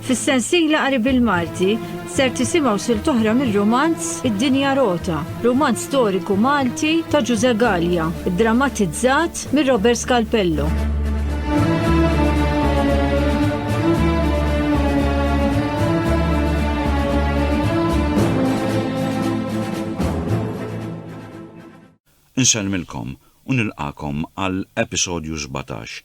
Fis-sensiela qari bil-Malti ser tisimgħu sil toħra mir-romanz Id-Dinja Rota, romanz storiku Malti ta' Ġuże Gallia, drammatizzat mir Robert Scalpello. Insellmilkom u nilqagħkom għal episodju sbatax.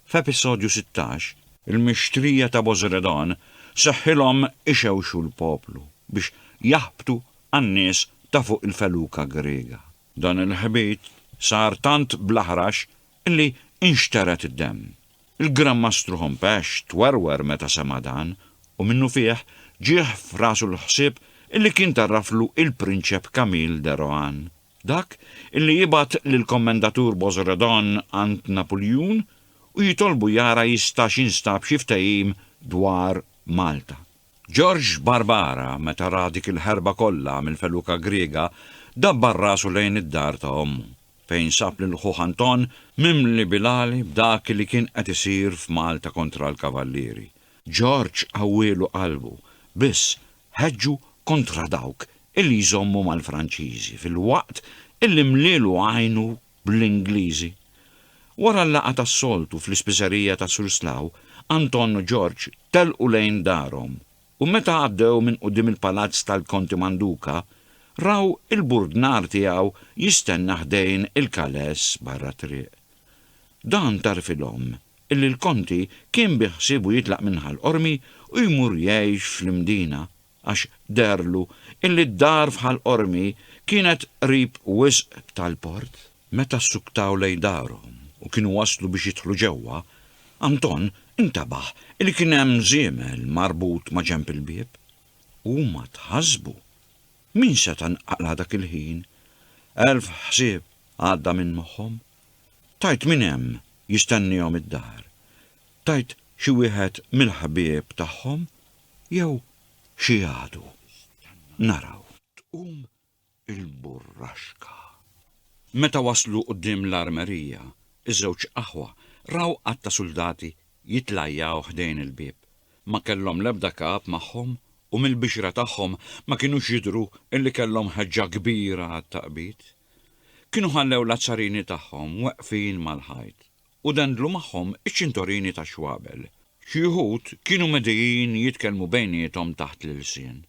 F'episodju sittax, il-mixtrija ta' Bożredon seħħilhom ixewxu l-poplu biex jaħbtu għan-nies ta' fuq il-feluka Griega. Dan il-ħbit sar tant bl-aħrax Li nxtered id-demm. Il-Gran Mastru Hompesch twerwer meta sema' dan, u minnufih ġieh f'rasu l-ħsieb illi kien tgħarraflu il-Prinċep Camille de Rohan, dak illi jibgħat lill-Kommendatur Bozredon għand Napuljun u jitolbu jara jistax jinstab xi ftehim dwar Malta. George Barbara, meta ra dik il-ħerba kollha mill-feluka Griega, dabbar rasu lejn id-dar ta' ommu, fejn sab lil ħuh Anton mimli bil-għali b'dak li kien qed isir f'Malta kontra l-Kavallieri. George qawwielu qalbu, biss ħeġġu kontra dawk illi jżommu mal-Franċiżi filwaqt illi mlielu għajnu bl-Ingliżi. Wara l-laqgħa tas-soltu fl-ispiżerija ta' Surslaw, Anton u George telqu lejn darhom u meta għaddew minn quddiem il-palazz tal-Konti Manduca, raw il-burdnar tiegħu jistenna ħdejn il-kaless barra t-triq. Dan tagħrfilhom illi l-Konti kien biħsiebu jitlaq minn Ħal Qormi u jmur jgħix fl-Imdina. għax deherlu illi d-dar f'Ħal Qormi kienet qrib wisq tal-port. Meta ssuktaw lejn darhom u kienu waslu biex jidħlu ġewwa, Anton intabaħ illi kien hemm żiemel marbut ma' ġenb il-bieb. Huma tħassbu. Min seta' nqala' dak il-ħin? Elf ħsieb għadda minn moħħhom. Tgħid min hemm jistennihom id-dar? Tgħid xi wieħed mill-ħbieb tagħhom? Jew xi għadu. Naraw. Tqum il-burraxka. Meta waslu quddiem l-armerija, iż-żewġ aħwa raw għadd ta' suldati jitlajjaw ħdejn il-bieb. Ma kellhom l-ebda kap magħhom u mill-bixra tagħhom ma kinux jidhru illi kellhom ħeġġa kbira għat-taqbid. Kienu ħallew l-azzarini tagħhom weqfin mal-ħajt u dendlu magħhom iċ-ċintorini tax-xwabel. Xi wħud kienu medijin jitkellmu bejniethom taħt l-ilsien,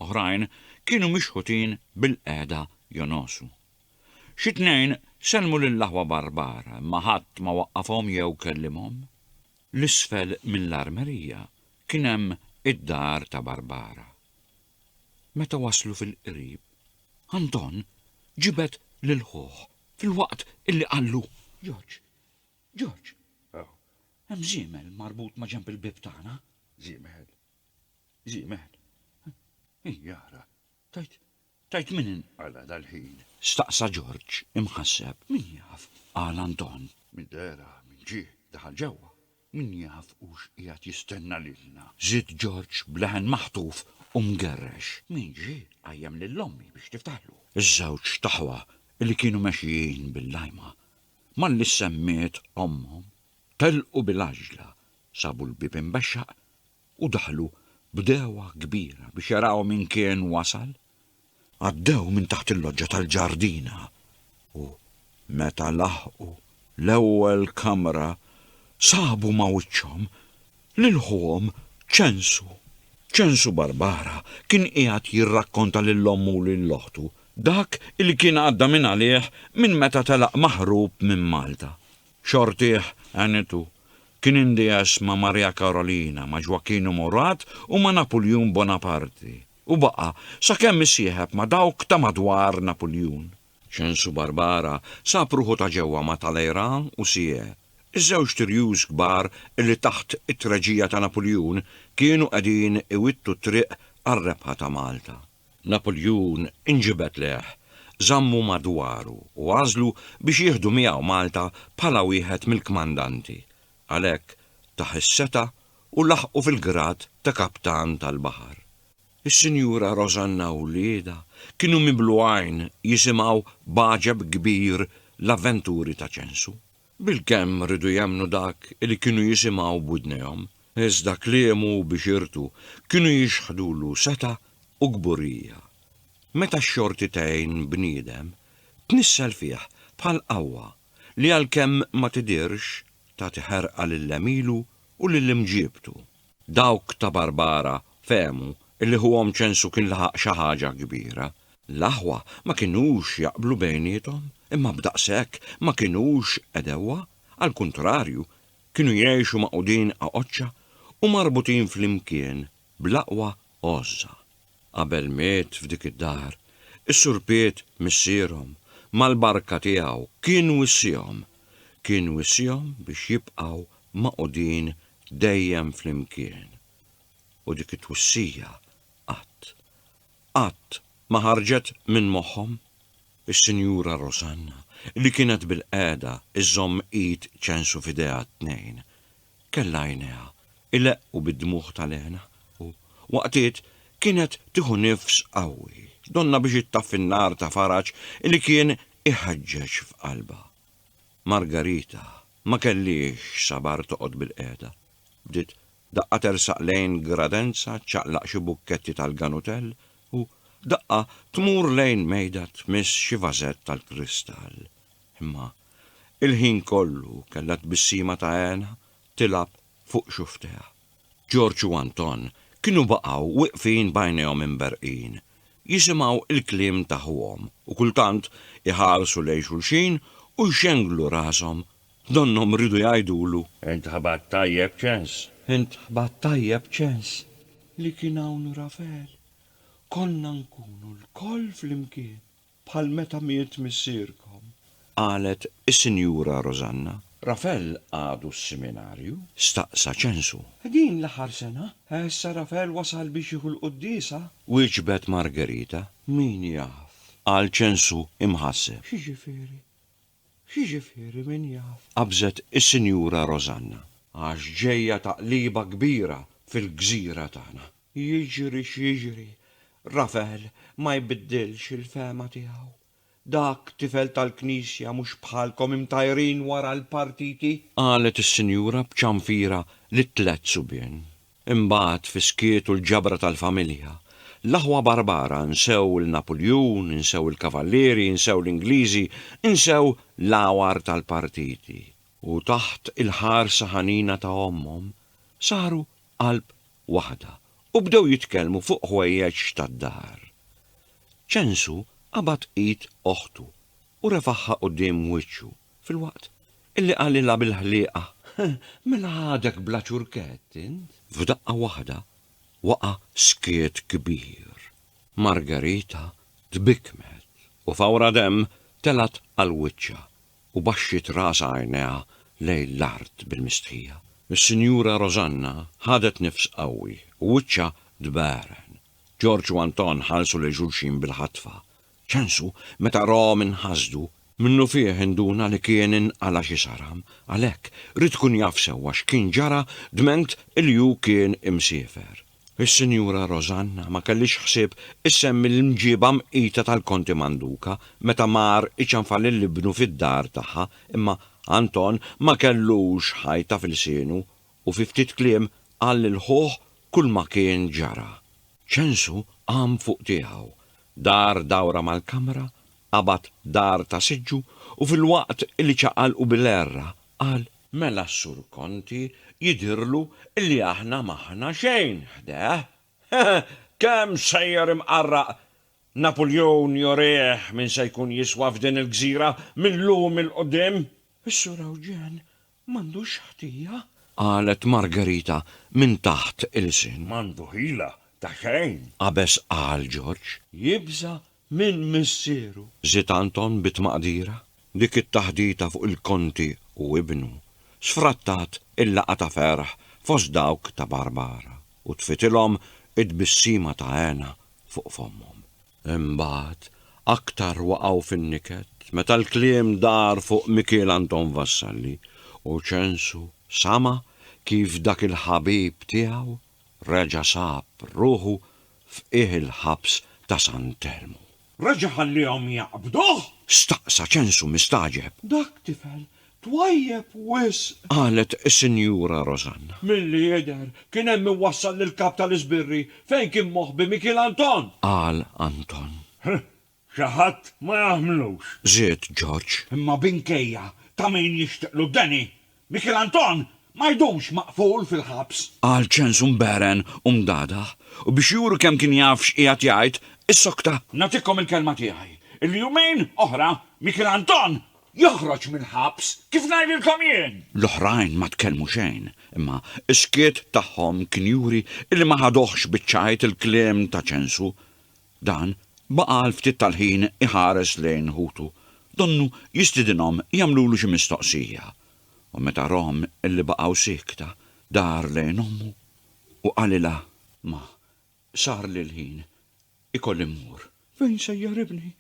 oħrajn kienu mixħutin bilqiegħda jonosu. Xi tnejn sellmu lill-aħwa barbara, imma ħadd ma waqqafhom jew kellimhom. L isfel mill-armerija kien hemm id-dar ta' Barbara. Meta waslu fil-qrib, Anton ġibed lil ħuh Filwaqt illi qallu, Ġorġ, Ġorġ, hemm żiemel marbut ma' ġenb il-bieb tagħna. Żiemel? Żiemel? Ija ara, tajt, tajt min inqala' dal-ħin? Staqsa Ġorġ imħasseb. Min jaf, qal Anton. Min dera, min ġie, daħal ġewwa. Min jaf hux qiegħed jistenna lilna? żied Ġorġ b'leħen maħtuf u mgerrex. Min ġie qajjem lil ommi biex tiftaħlu? Iż-żewġt aħwa li kienu mexjin bil-lajma, malli semmiet ommhom, telqu bil-għaġla, sabu l-bieb imbexxaq u daħlu b'degħwa kbira biex jaraw min kien wasal. Għaddew minn taħt il-loġġa tal-ġardina u meta laħqu l-ewwel kamra sabu ma' wiċċhom lil ħuhom Ċensu. Ċensu Barbara kien qiegħed jirrakkonta lil ommu u lil oħtu dak li kien għadda minn għalih minn meta telaq maħrub minn Malta. Xortih għanitu. Kien indies ma' Maria Karolina, ma' Ġwakinu Murat u ma' Napuljun Bonaparti, u baqa' sakemm isieħeb ma' dawk ta' madwar Napuljun. Ċensu Barbara sab ruħu ta' ġewwa ma' Talleyrand u Sieyès, iż-żewġt irjus kbar li taħt it-treġija ta' Napuljun kienu qegħdin iwittu t-triq għar-rebħa ta' Malta. Napuljun inġibed lejh, żammu madwaru u għażlu biex jieħdu miegħu Malta bħala wieħed mill-kmandanti. Għalhekk tah is-setgħa u laħqu fil-grad ta' kaptan tal-baħar. Is-Sinjura Rożanna u wliedha kienu mimlu għajn jisimgħu b'għaġeb kbir l-avventuri ta' Ċensu. Bilkemm riedu jemmnu dak li kienu jisimgħu b'widnejhom, iżda kliemu u bixirtu kienu jixħdulu setgħa u kburija. Meta x-xorti tgħin bniedem, tnissel fih bħal qawwa li għalkemm ma tidhirx, tagħti ħerqa lil għemilu u lil imġiebtu. Dawk ta' Barbara fehmu li ħuhom Ċensu kien laħaq xi ħaġa kbira. L-aħwa ma kinux jaqblu bejniethom, imma b'daqshekk ma kinux għedewwa, għall-kuntrarju, kienu jgħixu magħqudin għaqoċċa u marbutin flimkien bl-aqwa għożża. Qabel miet f'dik id-dar, is-Sur Piet missierhom, mal-barka tiegħu, kien wissiehom. Kien wissiehom biex jibqgħu magħqudin dejjem flimkien. U dik it-twissija qatt, qatt ma ħarġet minn moħħhom. Is-Sinjura Rosanna, li kienet bilqiegħda żżomm id ċensu f'idejha t-tnejn, kellha għajnejha ileqqu bid-dmugħ tal-hena u, waqtiet, kienet tieħu nifs qawwi, donnha biex ittaffi n-nar ta' faraġ li kien iħeġġeġ f'qalbha. Margarita ma kellhiex sabar toqgħod bilqiegħda. Bdiet daqqa tersaq lejn gradenza ċċaqlaq xi bukketti tal-ganutell u daqqa tmur lejn mejda tmiss xi vażett tal-kristall. Imma il-ħin kollu kellha tbissima ta' hena tilgħab fuq xufftejha. Ġorġ u Anton kienu baqgħu wieqfin b'għajnejhom imberqin, jisimgħu l-kliem ta' ħuhom u kultant iħarsu lejn xulxin u jxenglu rashom donnhom riedu jgħidulu, Int ħabat tajjeb ċens! Int ħabat tajjeb ċens! Li kien hawn Rafel, konna nkunu lkoll flimkien. bħal meta miet missierkom. Qalet is-Sinjura Rosanna. Rafel għadu s-Siminarju? staqsa Ċensu. Din l-aħħar sena. Issa Rafel wasal biex jieħu l-quddiesa. Wieġbet Margerita. Min jaf? qal Ċensu imħasseb. X'jiġifieri? Jiġifieri min jaf. Qabżet is-Sinjura Rosanna. Għax ġejja taqliba kbira fil-gżira tagħna. Jiġri x'jiġri, Rafel ma jbiddilx il-fehma tiegħu. Dak tifel tal-Knisja mhux bħalkom imtajrin wara l-partiti. Qalet is-Sinjura b'ċanfira lit-tliet subien. Imbagħad, fis-skiet u l-ġabra tal-familja, l-aħwa Barbara nsew 'l Napuljun, insew il-Kavallieri, insew l-Ingliżi, insew l-għawar tal-partiti, u taħt il-ħarsa ħanina ta' ommhom, saru qalb waħda u bdew jitkellmu fuq ħwejjeġ tad-dar. Ċensu qabad id oħtu u refagħha quddiem wiċċu, filwaqt Illi qalilha bil-ħlieqa, Mela għadek bla ċurkett int? F'daqqa waħda waqa' skiet kbir. Margherita tbikkmet u fawra demm telgħet għal wiċċha u baxxiet rasha għajnejha lejn l-art bil-mistħija. Is-Sinjura Rosanna ħadet nifs qawwi u wiċċha tbegħren. Ġorġ u Anton ħarsu lejn xulxin bil-ħatfa Ċansu, meta rahom inħasdu, minnufih induna li kien inqala' xi saram, għalhekk, ried ikun jaf sewwa x'kien ġara dment li hu kien imsiefer. Is-Sinjura Rosanna ma kellhiex ħsieb issemmi l-mġiba mqita tal-Konti Manduca meta mar iċanfar lil ibnu fid-dar tagħha, imma Anton ma kellux ħajta f'ilsienu u fi ftit kliem qal lil ħuh kulma kien ġara. Ċansu qam fuq tiegħu, Dar dawra mal-kamra, qabad dar ta' siġġu u filwaqt li ċaqalqu bil-għerra, qal. Mela s-Sur Conti jidhirlu li aħna m'aħna xejn ħdeh. Kemm sejjer imqarraq! Napuljun jurih min se jkun jiswa f'din il-gżira mil-lum 'il quddiem! Is-Sur Ewġen M'għandux ħtija? Qalet Margherita minn taħt ilsien. M'għandu ħila ta' xejn! Qabeż qal Ġorġ. Jibża' minn missieru. Żied Anton bi tmaqdira. Dik it-taħdita fuq il-Konti u ibnu, sfrattat il-laqgħa ta' ferħ fost dawk ta' Barbara u tfitilhom it-tbissima ta' hena fuq fommhom. Imbagħad, aktar waqgħu fin-niket meta l-kliem dar fuq Mikiel Anton Vassalli u Ċensu sama' kif dak il-ħabib tiegħu reġa' sab ruħu f'qiegħ il-ħabs ta' San Telmu. Reġa' ħalliehom jaqbduh? Staqsa Ċensu mistagħġeb. Dak tifel Twajjeb wisq! Qalet is-Sinjura Rosanna. Milli jidher, kien hemm min wassal lill-Kap tal-Iżbirri fejn kien moħbi Mikiel Anton! Qal Anton. Huh! Xi ħadd ma jagħmlux! Żied Ġorġ. Imma binkejja ta' min jixtiqlu d-deni, Mikiel Anton ma jdumx maqful fil-ħabs! Qal ċens mbegħren u mdagħdaħ, u biex juru kemm kien jaf x'qiegħed jgħid, issokta. Nagħtikom il-kelma tiegħi li jumejn oħra Mikiel Anton Joħroġ mill-ħabs, kif ngħidilkom jien? L-oħrajn ma tkellmu xejn, imma s-skiet tagħhom kien juri illi ma ħaduhx biċ-ċajt il-kliem ta' Ċensu. Dan baqa' għal ftit tal-ħin iħares lejn ħutu, donnu jistidinhom jagħmlulu xi mistoqsija, u meta rahom illi baqgħu siekta, dar lejn ommu u qalilha, Ma, sarli l-ħin, ikolli mmur. Fejn sejjer ibni?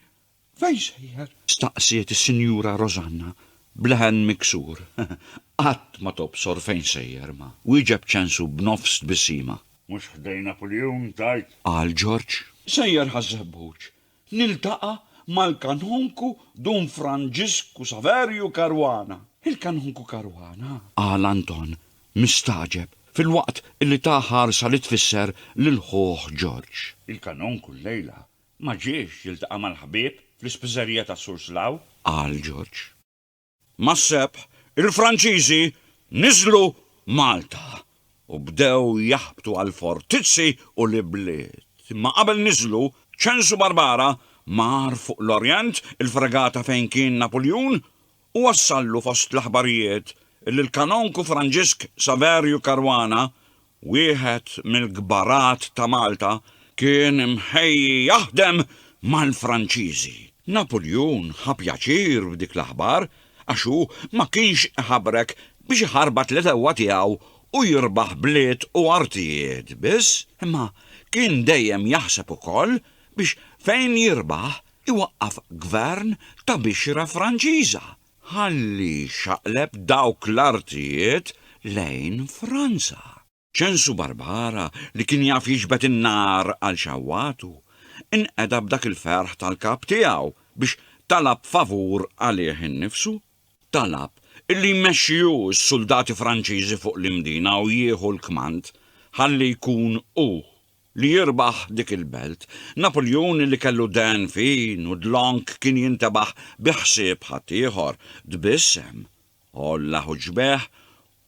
Fejn sejjer? staqsiet is-Sinjura Rosanna b'leħen miksur. Qatt ma tobsor fejn sejjer, ma, wieġeb Ċensu b'nofs tbissima. Mhux ħdejn Apuljun, tgħid? qal Ġorġ. Sejjer ħaż-Żebbuġ, niltaqa' mal-Kanonku Dun Franġisku Saverju Caruana. Il-Kanonku Caruana? qal Anton, mistagħġeb, filwaqt li ta ħarsa li tfisser lil ħuh Ġorġ. Il-Kanonku llejla Ma ġiex jiltaqa' mal-ħbieb fl-ispiżerija ta' Surslaw, qal George. Mas-Sebħ, il-Franċiżi niżlu Malta u bdew jaħbtu għall-fortizzi u l-ibliet. Imma qabel niżlu, Ċensu Barbara mar fuq l-Orjent, il-fregata fejn kien Napuljun, u wassallu fost l-aħbarijiet li l-Kanonku Franġisk Saverju Caruana, wieħed mill-kbarat ta' Malta, kien imħejji jaħdem mal-Franċiżi. Napuljun ħa pjaċir b'dik l-aħbar għax hu ma kienx iħabrek biex iħarbat l-għedewwa tiegħu u jirbaħ bliet u artijiet biss, imma kien dejjem jaħseb ukoll biex fejn jirbaħ iwaqqaf gvern ta' bixra Franċiża ħalli jxaqleb dawk l-artijiet lejn Franza. Ċensu Barbara li kien jaf jiġbed in-nar għal xewwatu, inqeda b'dak il-ferħ tal-kap tiegħu biex talab favur għalih innifsu. Talab illi jmexxi hu s-suldati Franċiżi fuq l-Imdina u jieħu l-kmand ħalli jkun hu li jirbaħ dik il-belt. Napuljun li kellu dehen fin u dlonk kien jintebaħ bi ħsieb ħaddieħor, tbissem, għolla ħuġbejh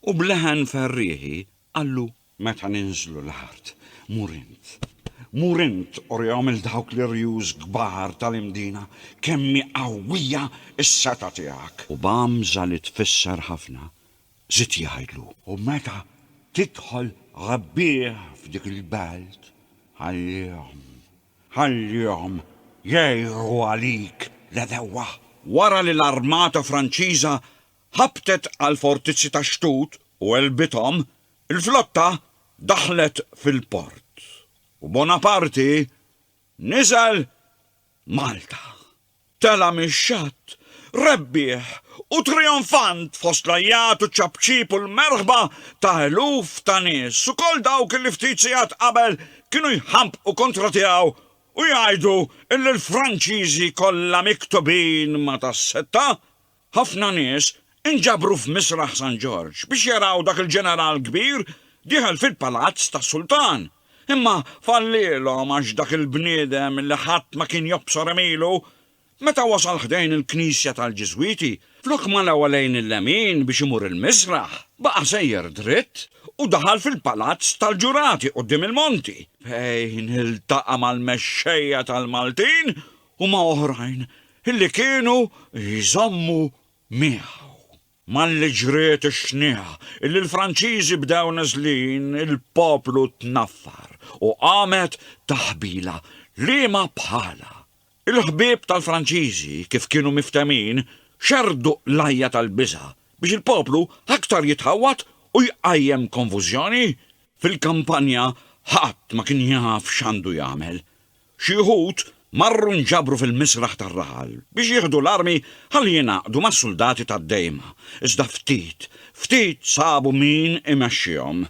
u b'leħen ferrieħi qallu. Meta ninżlu l-art, mur int. Mur int urihom 'l dawk l-irjus kbar tal-Imdina kemm hi qawwija s-setgħa tiegħek. U b'għamża li tfisser ħafna, Żied jgħidlu, U meta tidħol rebbieħ f'dik il-belt, ħallihom, ħallihom jgħiru għalik l-għedewwa. Wara li l-armata Franċiża ħabtet għall-fortizzi ta' Xtut u għelbithom, il-flotta daħlet fil-port u Bonaparte niżel Malta. Tela' mix-xatt, rebbieħ u trijonfant fost l-għajjat u ċ-ċapċip u l-merħba ta' eluf ta' nies, ukoll dawk li ftit sigħat qabel kienu jħampqu kontra tiegħu u jgħidu illi l-Franċiżi kollha miktubin ma' tas-setta. Ħafna nies inġabru f'Misraħ San Ġorġ biex jaraw dak il-ġeneral kbir dieħel fil-palazz tas-sultan. Imma fallielhom għax dak il-bniedem li ħadd ma kien jobsor għemilu, meta wasal ħdejn il-knisja tal-Ġiżwiti, flok ma lewa lejn il-lemin biex imur il-misraħ, baqa' sejjer dritt u daħal fil-palazz tal-ġurati quddiem il-monti, fejn iltaqa' mal-mexxejja tal-Maltin u ma' oħrajn li kienu jżommu miegħu. Malli ġriet ix-xniegħa li l-Franċiżi bdew niżlin, il-poplu tnaffar u qamet taħbila liema bħalha. Il-ħbieb tal-Franċiżi, kif kienu miftehmin, xerrdu l-għajja tal-biża' biex il-poplu aktar jitħawwad u jqajjem konfużjoni. Fil-kampanja ħadd ma kien jaf x'għandu jagħmel. Xi wħud marru nġabru fil-misraħ tar-raħal biex jieħdu l-armi ħalli jingħaqdu mas-suldati tad-Dejma, iżda ftit, ftit sabu min imexxihom.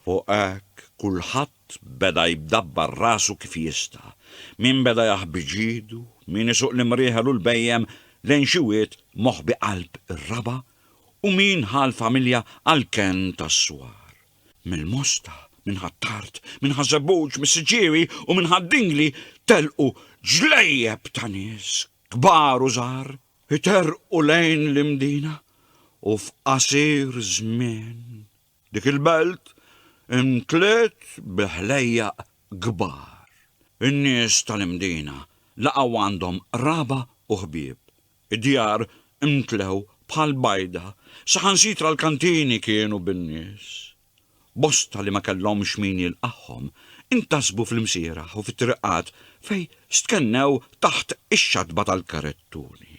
Fuq hekk, kulħadd beda jbdabbar rasu kif jista', min beda jaħbi ġidu, min isuq l-imrieħel u l-bhejjem lejn xi wied moħbi qalb ir-raba' u min ħa l-familja għall-kenn tas-swar. Mill-Mosta, minn Ħ'Attard, minn Ħaż-Żebbuġ, mis-Siġġiewi u minn Ħad-Dingli telqu ġlejjeb ta' nies, kbar u żgħar, iterqu lejn l-Imdina u f'qasir żmien dik il-belt imtliet bi ħlejjaq kbar. In-nies tal-Imdina laqgħu għandhom qraba u ħbieb. Id-djar imtlew bħal bajda, saħansitra l-kantini kienu bin-nies. Bosta li ma kellhomx min jilqagħhom, intasbu fl-imsieraħ u fit-triqat fejn stkennew taħt ix-xatba tal-karettuni.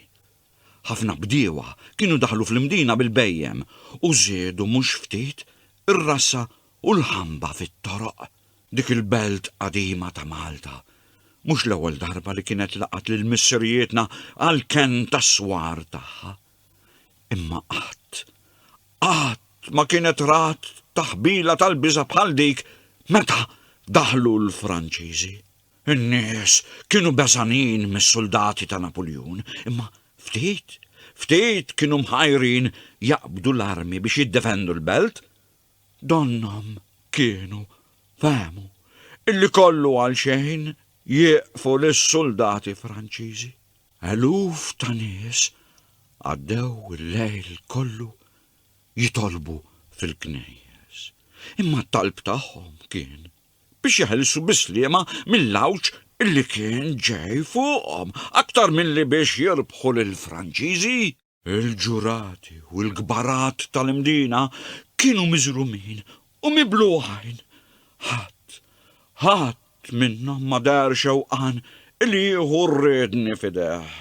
Ħafna bdiewa kienu daħlu fl-Imdina bil-bhejjem u żiedu mhux ftit ir-rassa u l-ħamba fit-toroq. Dik il-belt qadima ta' Malta mhux l-ewwel darba li kienet laqgħet lil missirijietna għall-kenn tas-swar tagħha. Imma qatt, qatt ma kienet rat taħbila tal-biża' bħal dik meta daħlu l-Franċiżi. In-nies kienu beżgħanin mis-suldati ta' Napuljun, imma ftit, ftit kienu mħajrin jaqbdu l-armi biex jiddefendu l-belt Donnhom kienu fehmu illi kollu għal xejn jieqfu lis-suldati Franċiżi. Eluf ta' nies għaddew il-lejl kollu jitolbu fil-knejjes, imma t-talb tagħhom kien biex jeħilsu bis-sliema mill-għawġ illi kien ġej fuqhom aktar milli biex jirbħu lill-Franċiżi. Il-ġurati u l-kbarat tal-Imdina kienu miżrumin u mibluħin. Ħadd, ħadd minnhom ma deher xewqan li jieħu r-riedni f'idejh.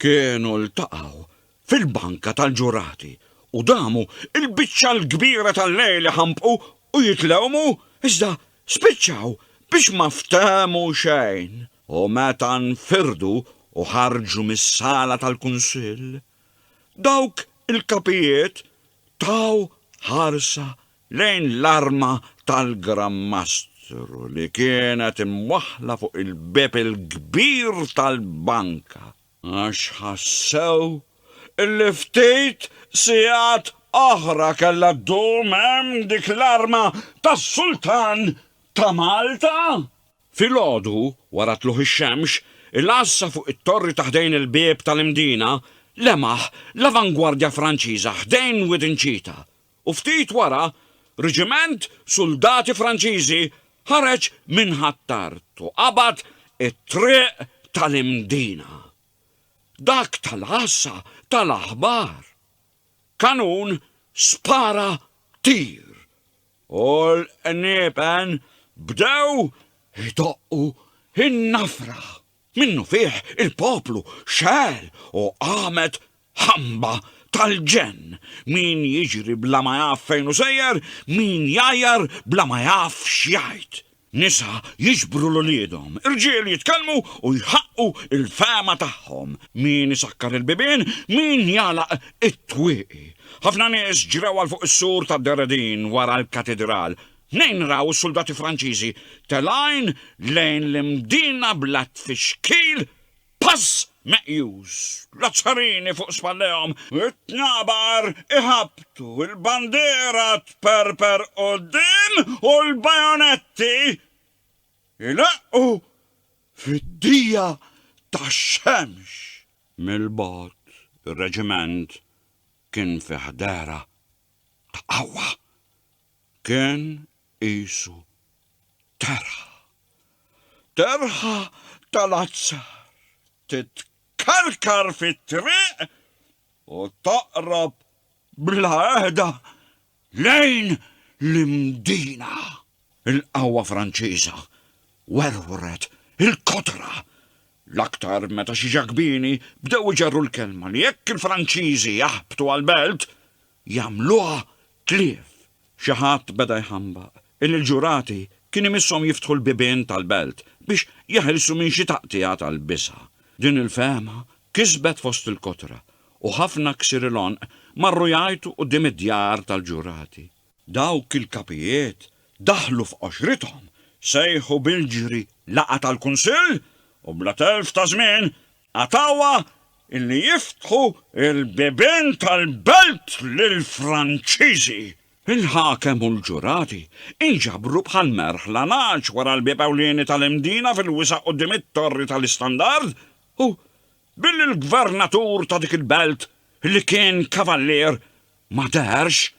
Kienu ltaqgħu fil-banka tal-ġurati u damu l-biċċa l-kbira tal-lejl iħampqu u jitlewmu iżda Spiċċaw biex ma ftehmu xejn u meta nfirdu u ħarġu mis-sala tal-Kunsill, dawk il-kapijiet taw ħarsa lejn l-arma tal-Gran Mastru li kienet imwaħħla fuq il-bieb il-kbir tal-banka. Għax ħassew illi ftit sigħat oħra kellha ddum hemm dik l-arma tas-Sultan ta' Malta. Filgħodu, wara tlugħ ix-xemx, il-għassa fuq it-torri ta' ħdejn il-bieb tal-Imdina lemaħ l-avangwardja Franċiża ħdejn Widin Ċita, u ftit wara riġiment suldati Franċiżi ħareġ minn Ħ'Attard u qabad it-triq tal-Imdina. Dak tal-għassa ta l-aħbar. Kanun spara tir u l-qniepen bdew idoqqu n-nafra. Minnufih il-poplu xegħel u qamet ħamba tal-ġenn, min jiġri bla ma jaf fejn hu sejjer, min jgħajjar bla ma jaf x'jgħid. Nisa jiġbru 'l uliedhom, irġiel jitkellmu u jħaqqu l-fehma tagħhom, min isakkar il-bibien, min jagħlaq it-twieqi. Ħafna nies ġrew għal fuq is-sur tad-Deredin wara l-Katidral, Tnejn raw is-suldati Franċiżi telgħin lejn l-Imdina blat fix-xkil, pass meqjus, l-Azzarini fuq spallejhom, it-Tnabar iħabbtu, il-bandiera tperper quddiem u l-bajonetti jleqqu fid-dija tax-xemx. Mill-bogħod, ir-reġiment kien fi ħdehra. b'qawwa. Kien qisu terħa. Terħa tal-azzar titkarkar fit-triq u taqrab bla heda lejn l-Imdina. Il-qawwa Franċiża werwret il-kotra, l-aktar meta xi Ġakbini bdew iġerru l-kelma li jekk il-Franċiżi jaħbtu għall-belt, jagħmluha tlief. Xi ħadd beda jħambaq illi l-ġurati kien imisshom jiftħu l-bibien tal-belt biex jeħilsu minn xi taqtigħa tal-bisgħa. Din il-fehma kisbet fost il-kotra u ħafna ksir il-għonq marru jgħajtu quddiem id-djar tal-ġurati. Dawk il-kapijiet daħlu f'qoxrithom, sejħu bil-ġri laqgħa tal-kunsill u bla telf ta' żmien qatgħuha illi jiftħu l-bibien tal-belt lill-Franċiżi. Il-ħakem u l-ġurati inġabru bħal merħ la ngħaġ wara l-bieb ewlieni tal-Imdina fil-wisa' quddiem it-Torri tal-Istandard u Billi l-gvernatur ta' dik il-belt li kien kavallier ma deherx,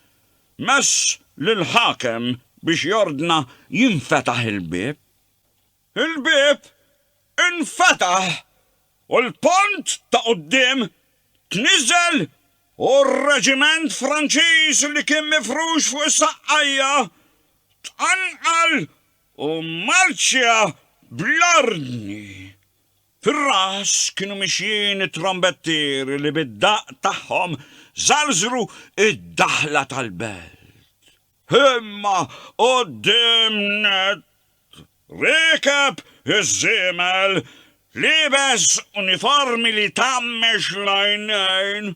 mess lill-ħakem biex jordna jinfetaħ il-bieb. Il-bieb infetaħ u l-pont ta' quddiem tniżel u r-reġiment Franċiż li kien mifrux fuq is-saqqajja tqanqal u marċja bl-ordni. Fir-ras kienu mixjin it-trombettieri li bid-daqq tagħhom żarżru d-daħla tal-belt. Imma quddiem nett riekeb iż-żiemel liebes uniformi li jtammex l-għajnejn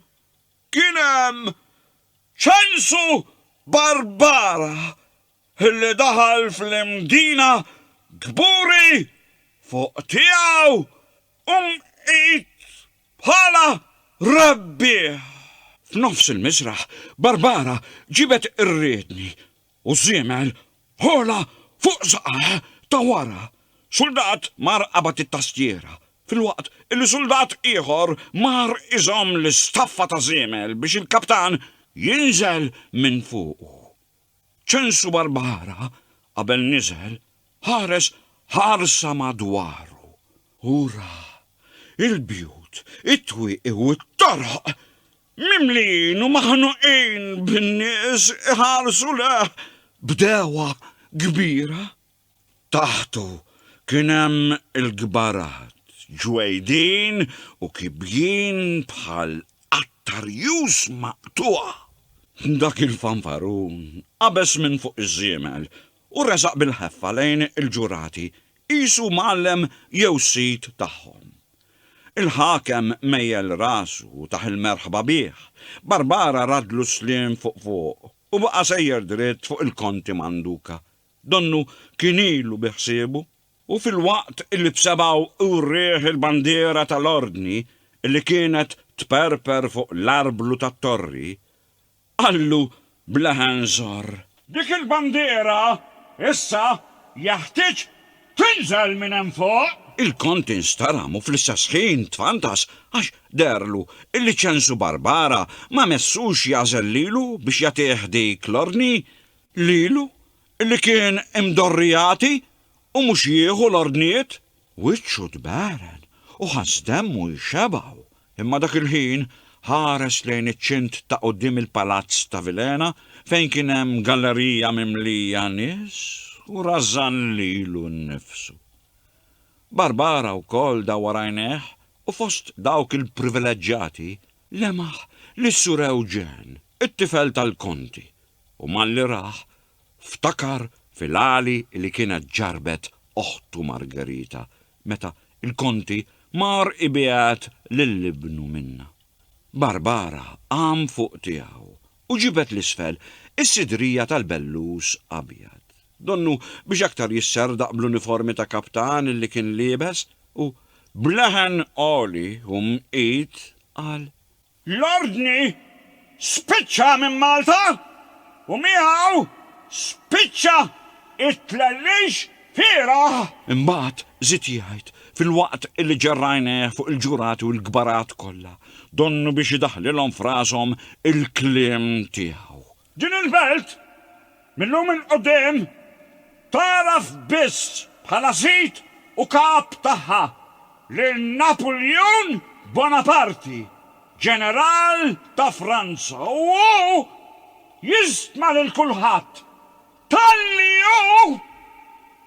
kien hemm Ċensu Barbara illi daħal fl-Imdina kburi fuq tiegħu u mqid bħala rebbieħ. F'nofs il-miżraħ, Barbara ġibet ir-riedni u ż-żiemel għola fuq saqajh ta' wara. Suldat mar qabad it-tastiera, filwaqt illi suldat ieħor mar iżomm l-istaffa ta' żiemel biex il-kaptan jinżel minn fuqu. Ċensu Barbara, qabel niżel, ħares ħarsa madwaru u ra il-bjut, it-twieqi u t-toroq mimlijin u maħnuqin bin-nies iħarsu lejh b'dewgħa kbira. Taħtu kien hemm il-kbarat, ġwejdin u kibjien bħal qatt arjuż maqtugħa. Dak il-fanfarun qabeż minn fuq iż-żiemel u resaq bil-ħeffa lejn il-ġurati qisu mgħallem jew sid tagħhom. Il-ħakem mejjel rasu u tah il-merħba bih, Barbara radlu s-sliem fuq fuq u baqa' sejjer dritt fuq il-Konti Manduka Donnu kien ilu bi ħsiebu u filwaqt li b'sebgħu wrieh il-bandiera tal-Ordni li kienet tperper fuq l-arblu tat-torri, qallu b'leħen żorr. Dik il-bandiera issa jeħtieġ tinżel minn hemm fuq! Il-Kont instaram u fl-istess ħin tfantas għax deherlu li Ċensu Barbara ma messux jagħżel lilu biex jagħtih dik l-ordni. lilu li kien imdorri jagħti u mhux jieħu l-ordnijiet. Wiċċu tberen u ħass demmu jxebgħu, imma dak il-ħin ħares lejn iċ-ċint ta' quddiem il-palazz ta' Vilhena fejn kien hemm gallerija mimlija nies u rażżan lilu nnifsu. Barbara wkoll dawwar għajnejh u fost dawk il-privileġġjati lemaħ lis-Sur Eugen, it-tifel tal-Konti, u malli rah, ftakar fil-għali li kienet ġarrbet oħtu Margherita meta l-Konti mar ibiegħed lil ibnu minnha. Barbara qam fuq tiegħu u ġibed 'l isfel is-sidrija tal-bellus abjad, donnu biex aktar jisserdaq bl-uniformi ta' kaptan li kien liebes, u b'leħen għoli u mqit qal, L-Ordni spiċċa minn Malta u miegħu spiċċa t-tlellix fieragħ. Imbagħad żied jgħid, Filwaqt li ġerr għajnejh fuq il-ġurati u l-kbarat kollha, donnu biex idaħħlilhom f'rashom il-kliem tiegħu. Din il-belt, mil-lum 'il quddiem, tagħraf biss bħala sid u kap tagħha lil Napuljun Bonaparti, ġeneral ta' Franza, u hu jistma lil kulħadd Talli hu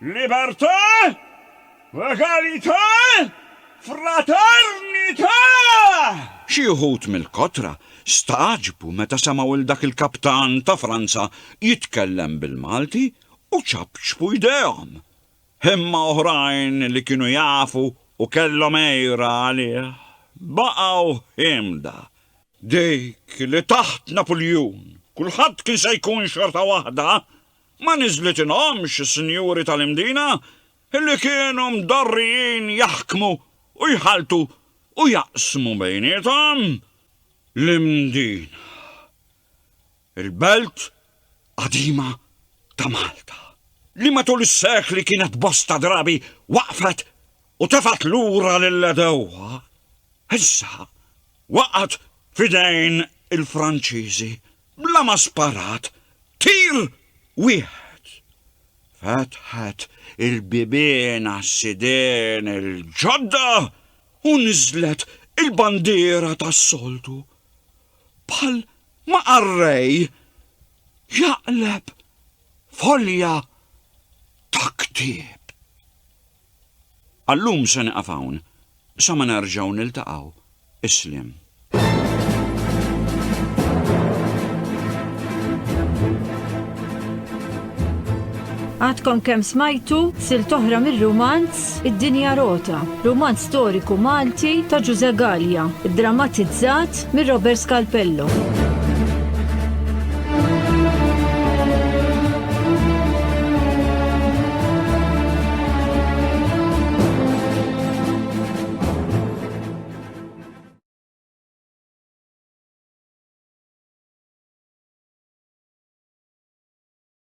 libertà, egalità, fraternità! Xi wħud mill-kotra stagħġbu meta semgħu 'l dak il-kaptan ta' Franza jitkellem bil-Malti u ċapċpu jdejhom. Imma oħrajn li kienu jafu u kellhom għira għalih baqgħu ħiemda. Dik li taħt Napuljun kulħadd kien se jkun xorta waħda ma niżlitilhomx is-sinjuri tal-Imdina li kienu mdorrijin jaħkmu u jħalltu u jaqsmu bejniethom l-Imdina. Il-belt qadima ta' Malta, li matul is-sekli kienet bosta drabi waqfet u tefgħet lura lill-għedewwa, issa waqgħet f'idejn il-Franċiżi bla ma sparat tir wieħed. Fetħet il-bibien għas-sidien il-ġodda u niżlet il-bandiera tas-soltu bħal Ma qarrej jaqleb folja ta' ktieb. Għallum se niqaf hawn sa ma nerġgħu niltaqgħu. Isliem. Għadkom kemm smajtu silt oħra mir-rumanz Id-Dinja Rota, rumanz storiku Malti ta' Ġużè Galea, iddramatizzat minn Robert Scalpello.